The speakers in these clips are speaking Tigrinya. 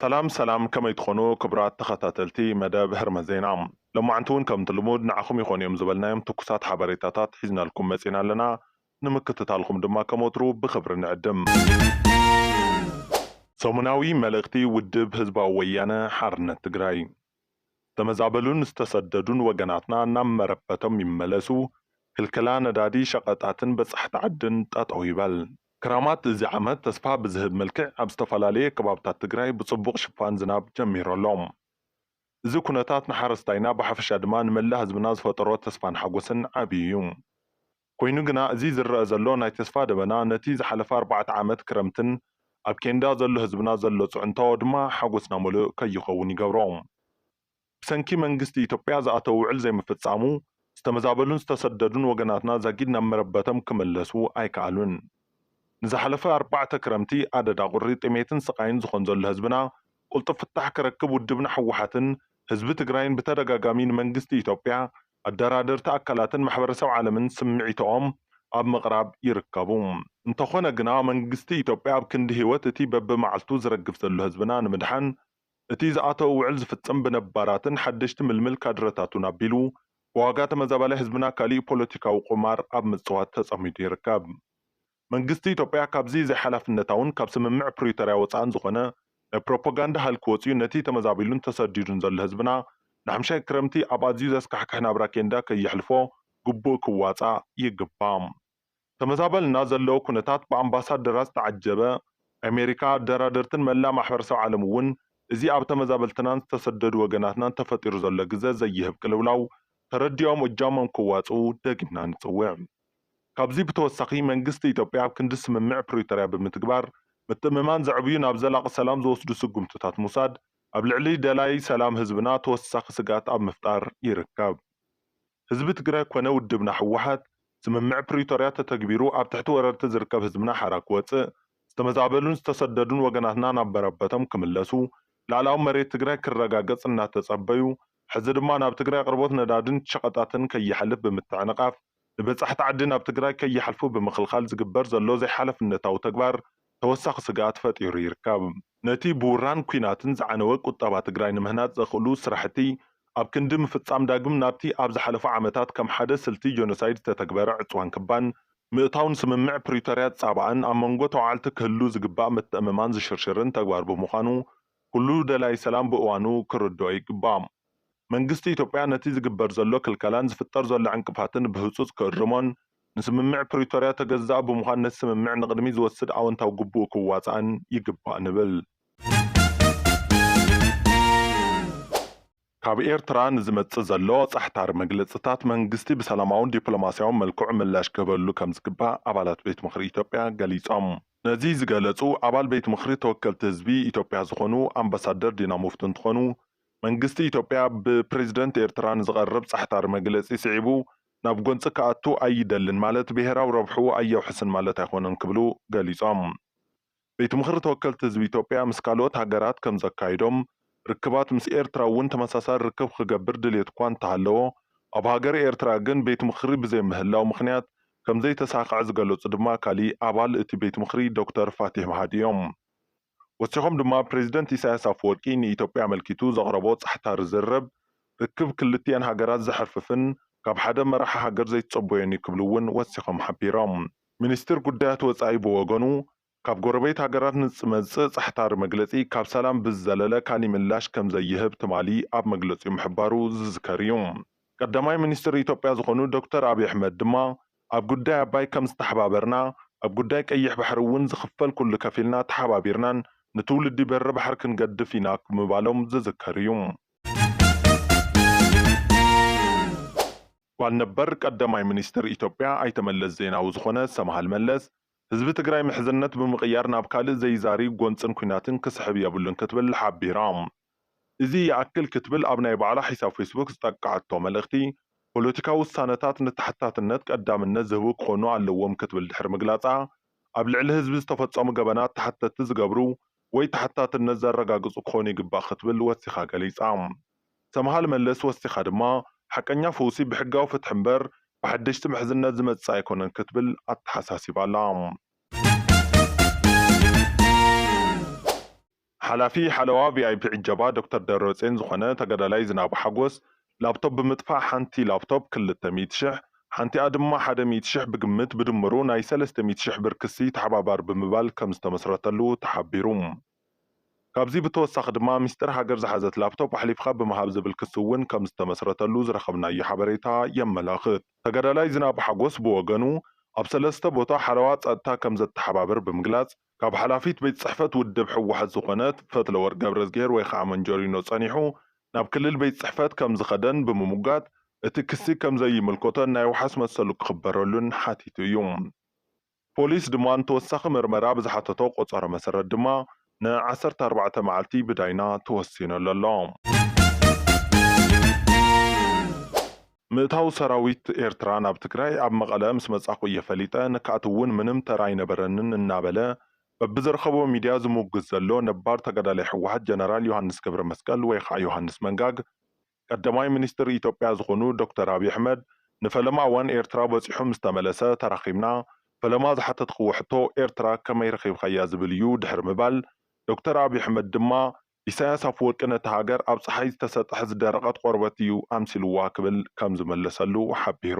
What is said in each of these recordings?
ሰላም ሰላም ከመይ ትኾኑ ክቡራት ተኸታተልቲ መደብ ህርመት ዜና ሎማዕንቲ እውን ከምቲ ልሙድ ንዓኹም ይኾኑ እዮም ዝበልናዮም ትኩሳት ሓበሬታታት ሒዝናልኩም መፂና ኣለና ንምክትታልኹም ድማ ከም ወትሩ ብኽብሪ ንዕድም። ሰሙናዊ መልእኽቲ ውድብ ህዝባዊ ወያነ ሓርነት ትግራይ! ዝተመዛበሉን ዝተሰደዱን ወገናትና ናብ መረበቶም ይመለሱ፣ ክልከላ ነዳዲ፣ ሸቐጣትን በፃሕቲ ዓድን ጠጠው ይበል። ክራማት እዚ ዓመት ተስፋ ብዝህብ መልክዕ ኣብ ዝተፈላለየ ከባብታት ትግራይ ብፅቡቕ ሽፋን ዝናብ ጀሚሩ ኣሎ። እዚ ኩነታት ንሓረስታይና ብሓፈሻ ድማ ንመላእ ህዝብና ዝፈጠሮ ተስፋን ሓጎስን ዓብዪ እዩ። ኮይኑ ግና እዚ ዝረኣ ዘሎ ናይ ተስፋ ደበና ነቲ ዝሓለፈ ኣርባዕተ ዓመት ክረምትን ኣብ ኬንዳ ዘሎ ህዝብና ዘሎ ፅዕንቶ ድማ ሓጎስና መሉእ ከይኸውን ይገብሮ። ብሰንኪ መንግስቲ ኢትዮጵያ ዝኣተው ውዕል ዘይምፍፃሙ ዝተመዛበሉን ዝተሰደዱን ወገናትና ዛጊድ ናብ መረበቶም ክመለሱ ኣይከኣሉን። ንዝሓለፈ ኣርባዕተ ክረምቲ ኣደዳ ቁሪ፣ ጥሜትን ስቓይን ዝኾን ዘሎ ህዝብና ቁልጡፍ ፍታሕ ክረክብ ውድብና ህወሓትን ህዝቢ ትግራይን ብተደጋጋሚ ንመንግስቲ ኢትዮጵያ ኣደራደርቲ ኣካላትን ማሕበረሰብ ዓለምን ስምዒቶኦም ኣብ ምቕራብ ይርከቡ። እንተኾነ ግና መንግስቲ ኢትዮጵያ ኣብ ክንዲ ህይወት እቲ በቢመዓልቱ ዝረግፍ ዘሎ ህዝብና ንምድሓን እቲ ዝኣተዎ ውዕል ዝፍፅም ብነባራትን ሓደሽቲ ምልምል ካድረታቱን ኣቢሉ ብዋጋ ተመዛባላይ ህዝብና ካሊእ ፖለቲካዊ ቁማር ኣብ ምፅዋት ተፀሚዱ ይርከብ። መንግስቲ ኢትዮጵያ ካብዚ ዘይሓላፍነታውን ካብ ስምምዕ ፕሪቶርያ ወፃእን ዝኾነ ናይ ፕሮፖጋንዳ ሃልኪ ወፂኡ ነቲ ተመዛቢሉን ተሰዲዱን ዘሎ ህዝብና ንሓምሻይ ክረምቲ ኣብ ኣዝዩ ዘስካሕክሕ ናብራ ኬንዳ ከየሕልፎ ግቡእ ክዋፃእ ይግባእ። ተመዛበልና ዘለዎ ኩነታት ብኣምባሳደራት ዝተዓጀበ ኣሜሪካ፣ ኣደራደርትን መላእ ማሕበረሰብ ዓለም እውን እዚ ኣብ ተመዛበልትናን ዝተሰደዱ ወገናትናን ተፈጢሩ ዘሎ ግዘ ዘይህብ ቅልውላው ተረዲኦም እጃሞም ክዋፅኡ ደጊምና ንፅውዕ። ካብዚ ብተወሳኺ መንግስቲ ኢትዮጵያ ኣብ ክንዲ ስምምዕ ፕሪቶርያ ብምትግባር ምትእምማን ዘዕብዩ ናብ ዘላቒ ሰላም ዝወስዱ ስጉምትታት ምውሳድ ኣብ ልዕሊ ደላይ ሰላም ህዝብና ተወሳኺ ስግኣት ኣብ ምፍጣር ይርከብ። ህዝቢ ትግራይ ኮነ ውድብና ህወሓት ስምምዕ ፕሪቶርያ ተተግቢሩ ኣብ ትሕቲ ወረርቲ ዝርከብ ህዝብና ሓራ ክወፅእ፣ ዝተመዛበሉን ዝተሰደዱን ወገናትና ናብ መረበቶም ክምለሱ፣ ልኣላዊ መሬት ትግራይ ክረጋገፅ እናተፀበዩ ሕዚ ድማ ናብ ትግራይ ኣቕርቦት ነዳድን ሸቐጣትን ከይሓልፍ ብምትዕንቓፍ ንበፃሕቲ ዓዲ ናብ ትግራይ ከይሓልፉ ብምኽልኻል ዝግበር ዘሎ ዘይሓላፍነታዊ ተግባር ተወሳኺ ስግኣት ፈጢሩ ይርከብ። ነቲ ብውራን ኲናትን ዝዓነወ ቁጠባ ትግራይ ንምህናፅ ዘኽእሉ ስራሕቲ ኣብ ክንዲ ምፍፃም ዳግም ናብቲ ኣብ ዝሓለፉ ዓመታት ከም ሓደ ስልቲ ጆኖሳይድ ዝተተግበረ ዕፅዋን ክባን ምእታው ንስምምዕ ፕሪቶርያ ዝፃባእን ኣብ መንጎ ተዋዓልቲ ክህሉ ዝግባእ ምትእምማን ዝሽርሽርን ተግባር ብምዃኑ ኩሉ ደላይ ሰላም ብእዋኑ ክርድኦ ይግባእ። መንግስቲ ኢትዮጵያ ነቲ ዝግበር ዘሎ ክልከላን ዝፍጠር ዘሎ ዕንቅፋትን ብህፁፅ ክእርሞን ንስምምዕ ፕሪቶርያ ተገዛኢ ብምዃን ነቲ ስምምዕ ንቕድሚት ዝወስድ ኣወንታዊ ግቡኡ ክዋፃእን ይግባእ ንብል። ካብ ኤርትራ ንዝመፅእ ዘሎ ፃሕታሪ መግለፅታት መንግስቲ ብሰላማውን ዲፕሎማሲያውን መልክዑ ምላሽ ክህበሉ ከምዝግባእ ኣባላት ቤት ምኽሪ ኢትዮጵያ ገሊፆም። ነዚ ዝገለፁ ኣባል ቤት ምኽሪ ተወከልቲ ህዝቢ ኢትዮጵያ ዝኾኑ ኣምባሳደር ዲና ሙፍቲ እንትኾኑ፣ መንግስቲ ኢትዮጵያ ብፕሬዝደንት ኤርትራ ንዝቐርብ ፃሕታሪ መግለፂ ስዒቡ ናብ ጎንፂ ክኣቱ ኣይደልን ማለት ብሄራዊ ረብሕኡ ኣየውሕስን ማለት ኣይኾነን ክብሉ ገሊፆም። ቤት ምኽሪ ተወከልቲ ህዝቢ ኢትዮጵያ ምስ ካልኦት ሃገራት ከምዘካይዶም ርክባት ምስ ኤርትራ እውን ተመሳሳሊ ርክብ ክገብር ድልየት'ኳ እንተሃለዎ፣ ኣብ ሃገረ ኤርትራ ግን ቤት ምኽሪ ብዘይምህላው ምኽንያት ከምዘይተሳኽዐ ዝገለጹ ድማ ካሊእ ኣባል እቲ ቤት ምኽሪ ዶክተር ፋቲሕ መሃዲ እዮም። ወሲኾም ድማ ፕረዚደንት ኢሳይያስ ኣፈወርቂ ንኢትዮጵያ ኣመልኪቱ ዘቕረቦ ጻሕታሪ ዝርርብ ርክብ ክልቲኤን ሃገራት ዘሕርፍፍን ካብ ሓደ መራሒ ሃገር ዘይትጸበዮን'ዩ ክብሉ እውን ወሲኾም ሓቢሮም። ሚኒስትር ጉዳያት ወጻኢ ብወገኑ ካብ ጎረቤት ሃገራት ንዝመጽእ ጻሕታሪ መግለጺ ካብ ሰላም ብዝዘለለ ካሊ ምላሽ ከምዘይህብ ትማሊ ኣብ መግለጺኡ ምሕባሩ ዝዝከር እዩ። ቀዳማይ ሚኒስትር ኢትዮጵያ ዝኾኑ ዶክተር ኣብይ ኣሕመድ ድማ ኣብ ጉዳይ ኣባይ ከምዝተሓባበርና ኣብ ጉዳይ ቀይሕ ባሕሪ እውን ዝኽፈል ኩሉ ከፊልና ተሓባቢርናን ንትውልዲ በሪ ባሕሪ ክንገድፍ ኢና ምባሎም ዝዝከር እዩ። ጓል ነበር ቀደማይ ሚኒስትር ኢትዮጵያ ኣይተ መለስ ዜናዊ ዝኾነ ሰምሃል መለስ፣ ህዝቢ ትግራይ ምሕዝነት ብምቕያር ናብ ካልእ ዘይዛሪ ጎንፅን ኲናትን ክስሕብ የብሉን ክትብል ሓቢራ። እዚ ይኣክል ክትብል ኣብ ናይ ባዕላ ሒሳብ ፌስቡክ ዝጠቀዐቶ መልእኽቲ፣ ፖለቲካዊ ውሳነታት ንተሓታትነት ቀዳምነት ዝህቡ ክኾኑ ኣለዎም ክትብል ድሕሪ ምግላፃ፣ ኣብ ልዕሊ ህዝቢ ዝተፈፀሙ ገበናት ተሓተትቲ ዝገብሩ ወይ ተሓታትነት ዘረጋግፁ ክኾኑ ይግባእ ክትብል ወሲኻ ገሊፃ። ሰምሃል መለስ ወሲኻ ድማ፣ ሓቀኛ ፈውሲ ብሕጋዊ ፍትሒ እምበር ብሓደሽቲ ምሕዝነት ዝመጽእ ኣይኮነን ክትብል ኣተሓሳሲባ'ላ። ሓላፊ ሓለዋ ቪኣይፒ ዕጀባ ዶክተር ደብረጼን ዝኾነ ተጋዳላይ ዝናቡ ሓጎስ፣ ላፕቶፕ ብምጥፋእ ሓንቲ ላፕቶፕ ክልተ ሚእቲ ሽሕ፣ ሓንቲኣ ድማ ሓደ ሚእቲ ሽሕ ብግምት ብድምሩ ናይ ሰለስተ ሚእቲ ሽሕ ብር ክሲ ተሓባባሪ ብምባል ከምዝተመስረተሉ ተሓቢሩ። ካብዚ ብተወሳኺ ድማ ሚስጥር ሃገር ዝሓዘት ላፕቶፕ ኣሕሊፍካ ብምሃብ ዝብል ክሲ እውን ከምዝተመስረተሉ ዝረኸብናዮ ሓበሬታ የመላኽት። ተጋዳላይ ዝናቡ ሓጎስ ብወገኑ ኣብ ሰለስተ ቦታ ሓለዋ ፀጥታ ከምዘተሓባብር ብምግላፅ ካብ ሓላፊት ቤት ፅሕፈት ውድብ ህወሓት ዝኾነት ፈትለወርቅ ገብረዝጊሄር ወይ ከዓ መንጀሪኖ ፀኒሑ ናብ ክልል ቤት ፅሕፈት ከምዝኸደን ብምሙጋት እቲ ክሲ ከምዘይምልኮተን ናይ ዋሕስ መሰሉ ክኽበረሉን ሓቲቱ እዩ። ፖሊስ ድማ ንተወሳኺ ምርመራ ብዝሓተቶ ቆፀሮ መሰረት ድማ ን ዓሰርተ ኣርባዕተ መዓልቲ ብዳይና ተወሲኑሉ ኣሎ። ምእታው ሰራዊት ኤርትራ ናብ ትግራይ ኣብ መቐለ ምስ መፃኹ እየ ፈሊጠ፣ ንክኣትው እውን ምንም ተራ ኣይነበረንን እናበለ በብዝረኸቦ ሚድያ ዝሙግት ዘሎ ነባር ተጋዳላይ ህወሓት ጀነራል ዮሃንስ ገብረመስቀል ወይ ከዓ ዮሃንስ መንጋግ፣ ቀዳማይ ሚኒስትር ኢትዮጵያ ዝኾኑ ዶክተር ኣብይ ኣሕመድ ንፈለማ እዋን ኤርትራ በፂሑ ምስ ተመለሰ ተራኺብና ፈለማ ዝሓተትኽዎ ሕቶ ኤርትራ ከመይ ረኺብኻያ ዝብል እዩ ድሕሪ ምባል ዶክተር ኣብይ ኣሕመድ ድማ ኢሳያስ ኣፍወርቂ ነታ ሃገር ኣብ ፀሓይ ዝተሰጠሐ ዝደረቐት ቆርበት እዩ ኣምሲልዋ ክብል ከም ዝመለሰሉ ሓቢሩ።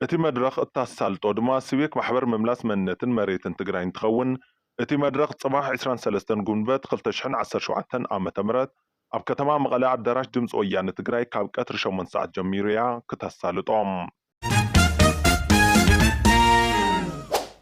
እቲ መድረኽ እታሳልጦ ድማ ስቤክ ማሕበር ምምላስ መንነትን መሬትን ትግራይ እንትኸውን እቲ መድረኽ ፅባሕ ዕስራን ሰለስተን ጉንበት ክልተ ሽሕን ዓሰርተ ሸውዓተን ዓ ም ኣብ ከተማ መቐለ ኣዳራሽ ድምፂ ወያነ ትግራይ ካብ ቀትሪ ሸሞንተ ሰዓት ጀሚሩ እያ ክተሳልጦ።